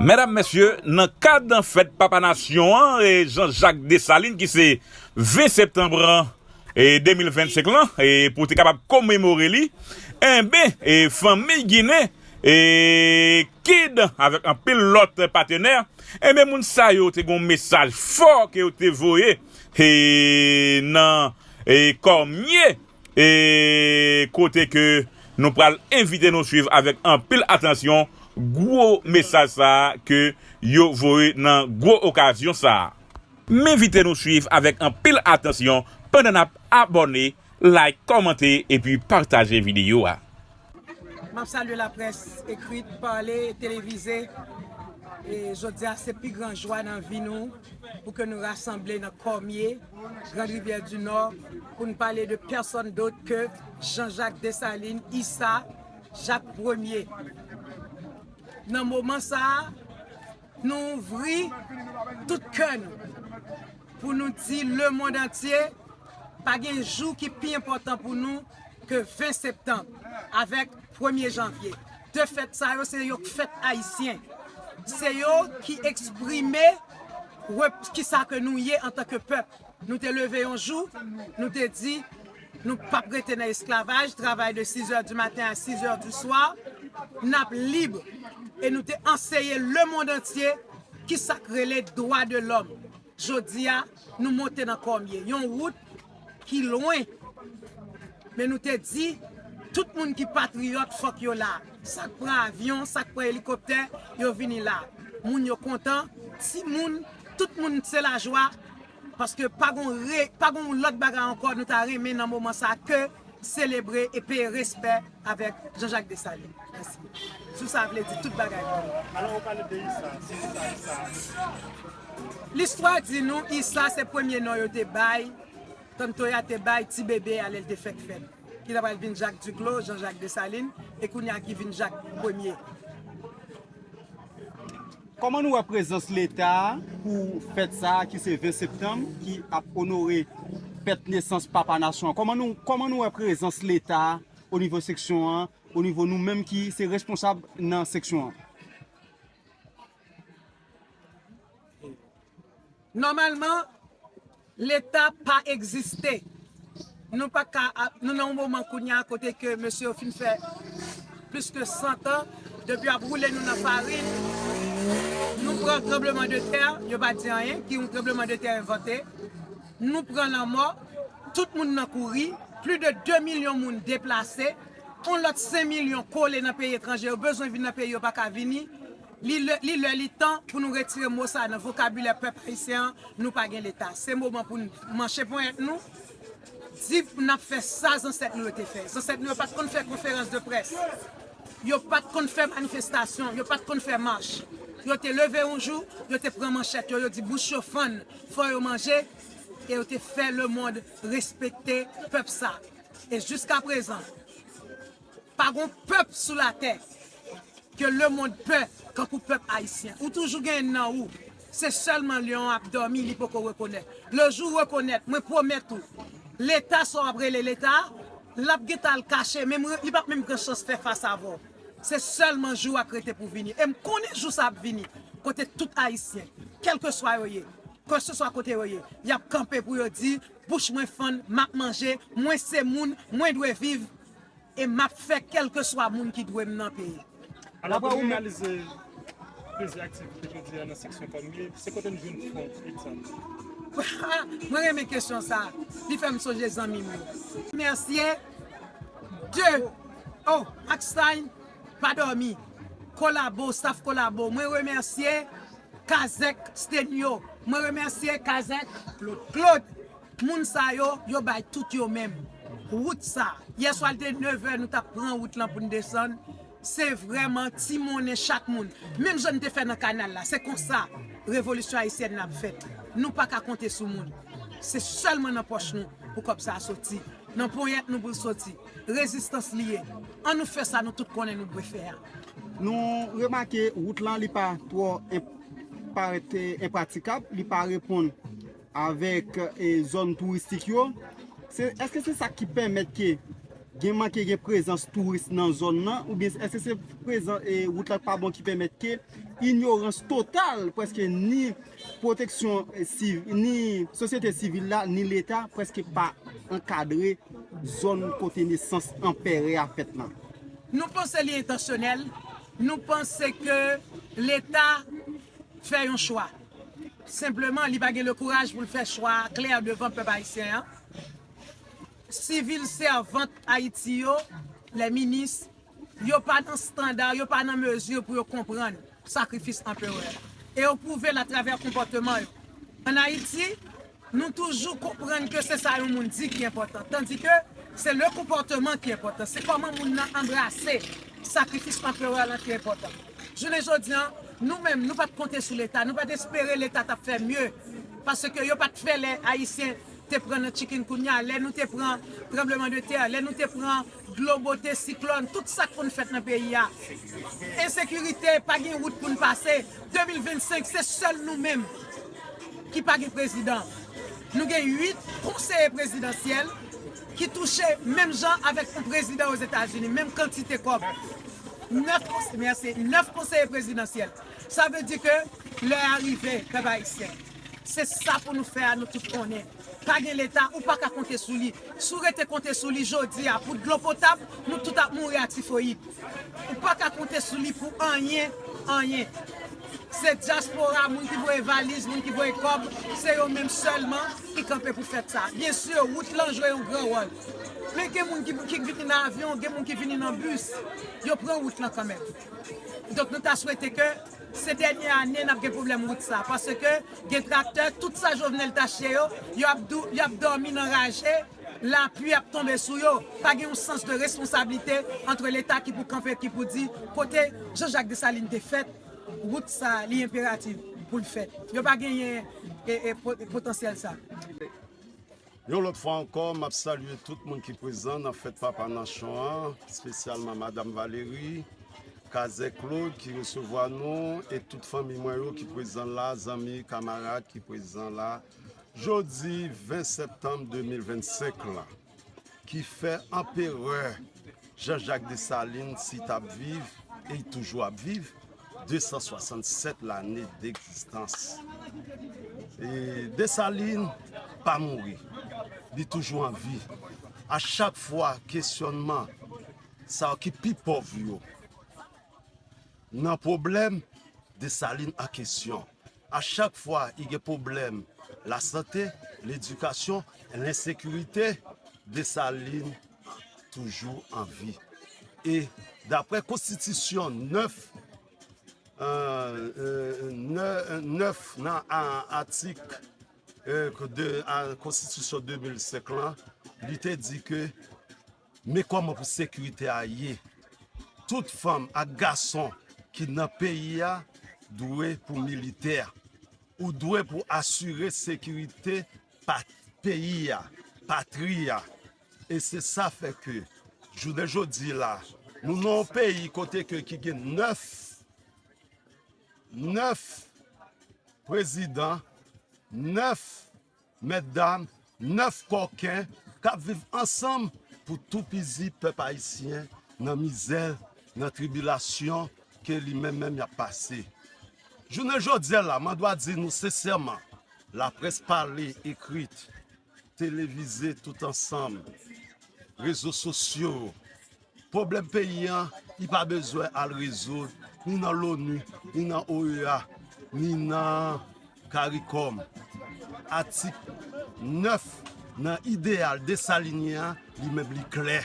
Medam, Mesye, nan kad fèt Papa Nasyon an Jean Jacques Dessalines ki se 20 septanm 2025 lan pou te kapab komemore li, enben fanmi Ginen, kid avèk anpil lòt patenè, enben moun sa yo te gen yon mesaj fò ke yo te voye nan kòmye. e kote ke nou pral envite nou swiv avèk anpil atansyon gwo mesaj sa a ke yo voye nan gwo okazyon sa a. M envite nou swiv avèk anpil atansyon pandan n ap abòne, like, kòmante epi pataje videyo a. Map salye la près ekrit, pale, televize. E jodia se pi gran jwa nan vi nou pou ke nou rasanble nan Kòmye, Grand Rivière du Nord pou nou pale de pèsòn dot ke Jean Jacques Dessalines, Issa, Jacques Premier. Nan moman sa a. Nou ouvri tout kè nou pou nou di le mond antye pa gen jou ki pi enpòtan pou nou ke 20 septanm avèk premye janvye. De fèt sa yo se yo k fèt ayisyen. Se yo ki eksprime kisa ke nou ye antanke pèp. Nou te leve yon jou, nou te di, nou p ap rete nan esklavaj, travay de sizè di maten a sizè di swa, n ap lib. E nou te anseye lemond antye ki sa k rele dwa de lòm. Jodi a, nou monte nan kòmye, yon wout ki lwen, men nou te di, tout moun ki patriyòt fòk yo la. Sa k pran avyon, sa k pran elikoptè, yo vini la. Moun yo kontan, timoun, tout moun se lajwa. Paske pa gon re, pa gon lòt bagay ankò nou ta renmen nan moman sa ke selebre e peye respè avèk Jean-Jacques Dessalines. Mèsi. Jou sa vle di tout bagay pou nou. Alò ou pale de Issa, se ki sa Issa a ye? Listwa di nou Issa se premye non yo te bay, Ton Toya te bay ti bebe a lè l te fèk fèt. Ki ta pral vin Jacques Duclos, Jean-Jacques Dessalines, e kounye a ki vin Jacques premye. Kòman nou wè prezans leta pou fèt sa ki se 20 septanm ki ap onore fèt nesans papa nasyon an? Kòman nou wè prezans leta o nivo seksyon an, o nivo nou menm ki se responsab nan seksyon an? Nòmalman leta pa egziste. Nou pa ka ap, nou nan yon moman kounye a kote ke mesye yo fin fè plis ke 100 tan depi yo ap woule nou nan farin. Nou pran tranbleman de tè, yo pa di anyen, ki yon tranbleman de tè envante. Nou pran lanmò, tout moun nan kouri, plis de 2 milyon moun deplase, yon lòt 5 milyon kole nan peyi etranje, yo bezwen vin nan peyi yo pa ka vini. Li lè, li lè li tan pou nou retire mo sa nan vokabilè pèp ayisyen an, nou pa gen leta. Se moman pou n manche ponyèt nou, di n ap fè sa zansèt nou yo te fè. Zansèt nou yo pa t konn fè konferans de près, yo pa t konn fè manifestasyon, yo pa t konn fè mach. Yo te leve yon jou, yo te pran manchèt yo, yo di bouch yo fann, fò yo manje, e yo te fè lemond respekte pèp sa. E jiskaprezan. Pa gon pèp sou latè ke lemond pè kankou pèp ayisyen. Ou toujou gen nan ou. Se sèlman lyon an ap dòmi li poko rekonèt. Le jou ou rekonèt, mwen pwomèt ou, leta sa w ap rele leta a, l ap gen tan al kache menm, li p ap menm gen chans fè fas avè w. Se sèlman jou a k rete pou vini. E m konnen jou sa ap vini kote tout ayisyen, kèlkeswa yo ye, keseswa kote yo ye, y ap kanpe pou yo di, bouch mwen fann, m ap manje, mwen se moun, mwen dwe viv, e m ap fè kèlkeswa moun ki dwe m nan peye. Alò pou n reyalize plizyè aktivite jodi a nan seksyon pam li, se kote n jwenn fon, egzanp. Mwen renmen kesyon sa a, li fè m sonje zanmi m yo. Mercier, de, O, ak Sain, pa dòmi, kolabo, staf kolabo, mwen remèsye Kazèk, Stenio, mwen remèsye Kazèk, Claude, Moun sa yo, yo bay tout yo menm. Wout sa, yè swa li te 9 è nou tap pran wout lan pou n desann, se vrèman ti monnen chak moun. Menm jan n te fè nan kanal la, se konsa revolisyon ayisyèn nan ap fèt. Nou pa ka konte sou moun. Se sèlman nan pòch nou pou kòb sa a soti. Nan ponyèt nou pou l soti. Rezistans li ye. An nou fè sa nou tout konnen nou dwe fè a. Nou remake wout lan li pa twò, parèt enpratikab, li pa reponn avèk zòn touristik yo, èske se sa ki pèmèt ke gen manke gen prezans touris nan zòn nan, oubyen èske se prezans e wout la k pa bon ki pèmèt ke inyorans total prèske ni pwoteksyon sivil, ni sosyete sivil la, ni leta prèske pa ankadre zòn kote nesans anperè a fèt lan? Nou panse li entansyonèl, nou panse ke leta. fè yon chwa. Senpleman li pa gen le kouraj pou l fè chwa a klè devan pèp ayisyen an. Sivil sèvant Ayiti yo, lè minis, yo pa nan standard, yo pa nan mezi pou yo konprann sakrifis Anperè a. E yo pwouve l atravè konpòteman yo. An Ayiti. Nou toujou konprann ke se sa yon moun di ki enpòtan, tandike se le konpòteman ki enpòtan, se kòman moun nan anbrase sakrifis Anperè lan ki enpòtan. Jounen jodi an, nou menm, nou pa t konte sou Leta, nou pa t espere Leta t ap fè mye, paske yo pa t fè lè Ayisyen te pran nan chikungunya, lè nou te pran tranbleman de tè, lè nou te pran Dlo bote, siklòn, tout sa k konn fèt nan peyi a. Ensekirite, pa gen wout pou n pase. 2025, se sèl nou menm ki pa gen prezidan. Nou gen 8 konseye prezidansyèl ki touche menm jan avèk yon prezidan Ozetazini, menm kantite kòb. 9 konseye, mèsi, 9 konseye prezidansyèl. Sa vle di ke lè a rive, pèp ayisyen. Se sa pou nou fè a, nou tout konnen. Pa gen leta ou paka konte sou li si w rete konte sou li jodi a pou dlo potab nou tout ap mouri a tifoyid ou paka konte sou li pou anyen anyen se dyaspora moun ki voye valiz moun ki voye kòb se yo menm sèlman ki kanpe pou fèt sa byen si wout lan jwe yon gran wòl men gen moun ki vini nan avyon gen moun ki vini nan bis yo pran wout lan kanmenm donk nou ta swete ke. Se dènye ane nap gen pwoblèm wout sa paske gen traktè tout sa Jovenel tache yo yap dòmi nan raje lapui ap tonbe sou yo pa gen yon sans de responsablite antre leta ki pou kanpe ki pou di kote Jean Jacques Dessalines te fèt wout sa li enperativ poul fèt yo pa genyen potansyèl sa. Yon lòt fwa ankò map salye tout moun ki prezan nan fèt papa nanchon an spesyalman madam Valerie, Kazè Claude ki resevwa nou e tout fanmi mwen yo ki prezan la, zanmi, kamarad ki prezan la jodi 20 septanm 2025 lan ki fè anperè. Jean Jacques Dessalines si t ap viv, e l toujou ap viv, 267 lane degzistans. Desalin pa mouri, li toujou an vi. A chak fwa kesyònman sa yo ki pi pòv yo nan pwoblèm, Desalin an kesyon. A chak fwa li gen pwoblèm lasante, ledikasyon, lensekirite, Desalin toujou an vi. E dapre konstitisyon 9 nan atik konstitisyon 2005 lan, li te di ke men kòman pou sekirite a ye. Tout fanm ak gason ki nan peyi a dwe pou militè. Ou dwe pou asire sekirite peyi a, patri a. E se sa fè ke jounen jodi la, nou nan yon peyi kote ke ki gen 9, 9 prezidan, 9 mèt dam, 9 kòken k ap viv ansanm pou toupizi pèp ayisyen nan mizè, nan tribilasyon ke li menm menm y ap pase. Jounen jodi la, mwen dwa di nou sensèman, laprès pale, ekrit, Televize tout ansanm, rezo sosyo, pwoblèm peyi an li pa bezwen al rezoud ni nan loni, ni nan OEA, ni nan caricom. Atik 9 nan ideyal Desalinyen an li menm li klè.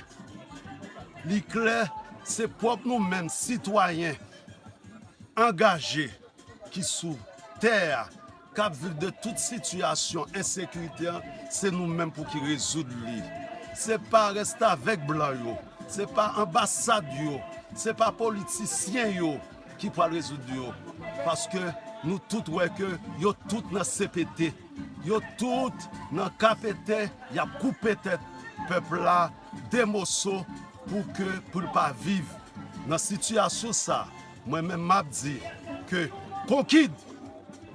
Li klè se pwòp nou menm sitwayen angaje ki sou tè a, k ap viv de tout sitiyasyon ensekirite an se nou menm pou ki rezoud li se pa restavèk blan yo se pa anbasad yo se pa politisyen yo ki pral rezoud yo paske nou tout wè ke yo tout nan CPT yo tout nan KPT y ap koupe tèt pèp la de moso pou ke pou l pa viv nan sitiyasyon sa. Mwen menm map di ke konkid,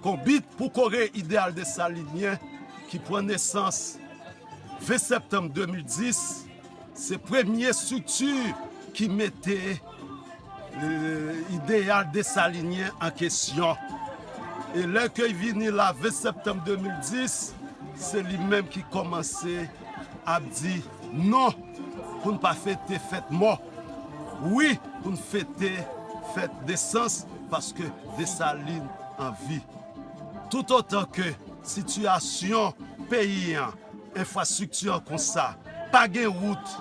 konbit pou kore ideal desalinyen ki pran nesans 20 septanm 2010, se premye strikti ki mete ideal desalinyen an kesyon. E lè ke vini la 20 septanm 2010, se li menm ki komanse ap di non pou n pa fete fèt mò. Wi pou n fete fèt nesans paske Desalin an vi. Toutotan ke sitiyasyon peyi an, enfrastrikti an konsa, pa gen wout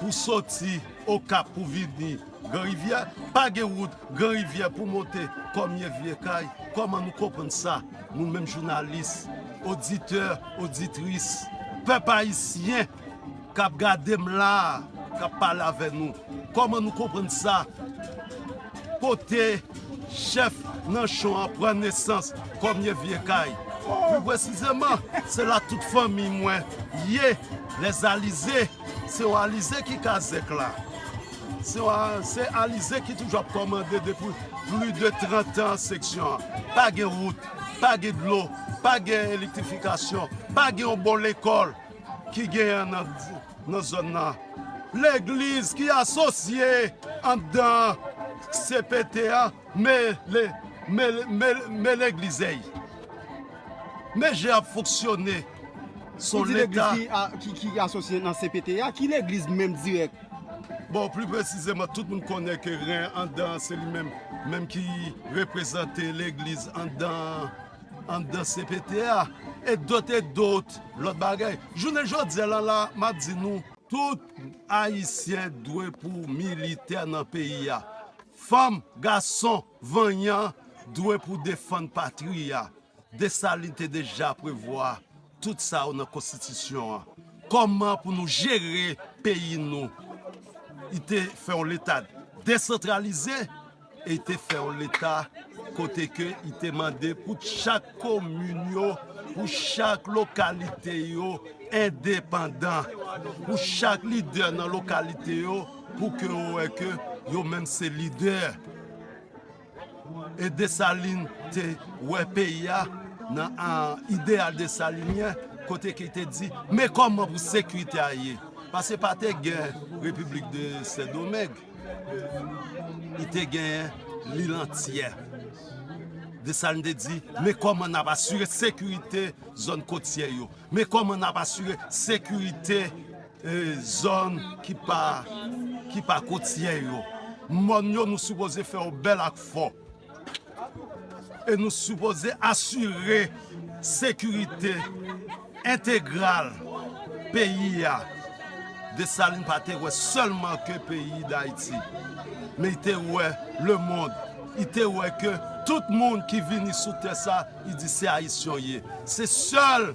pou soti Okap pou vini Gran Rivyè, pa gen wout Gran Rivyè pou monte Kòmye, Vyekay, kòman nou konprann sa, nou menm jounalis, oditè, oditris, pèp ayisyen? kap gadem la kap pale avè nou kòman nou konprann sa kote chèf nanchon an pran nesans kòmye vye kay pi presizeman se la tout fanmiy mwen ye les alize se yon alize ki kazèk la se yon se alize ki toujou ap kòmande depi pli de 30 an seksyon an pa gen wout pa gen dlo pa gen elektrifikasyon pa gen yon bon lekòl ki genyen nan zòn nan, legliz ki asosye anndan cpt an, men leglizey, men jan yap fonksyone, son leta. Ou di legliz ki asosye nan cpt a, ki legliz menm dirèk? Bon, pli presizeman, tout moun konnen ke ren anndan se li menm, menm ki reprezante legliz anndan. anndan cpt a e dot e dot lòt bagay jounen jodya la la map di nou tout ayisyen dwe pou militè nan peyi a fanm gason vanyan dwe pou defann patri a Dessalines te deja prevwa Tout sa yo nan konstitisyon an. Koman pou nou jere peyi nou. Li te fè yon leta desantralize e li te fè yon leta kote ke li te mande pou chak komin yo, pou chak lokalite yo endepandan. Pou chak lidè nan lokalite yo pou ke yo wè ke yo menm se lidè. E Desalin te wè peyi a nan ideyal desalinyen kote ki te di men kòman pou sekirite a ye. Pase pa te gen Repiblik de Sendomeng, li te genyen lil antyè. Desalin te di men kòman n ap asire sekirite zòn kotyè yo, men kòman n ap asire sekirite. Zòn ki pa ki pa kotyè yo. Mòn yo nou sipoze fè yo bèl ak fò. E nou sipoze asire sekirite entegral peyi a. Desalin pa te wè sèlman ke peyi Dayiti. Men li te wè lemond. Li te wè ke tout moun ki vini sou tè sa, li di se Ayisyon ye. Se sèl.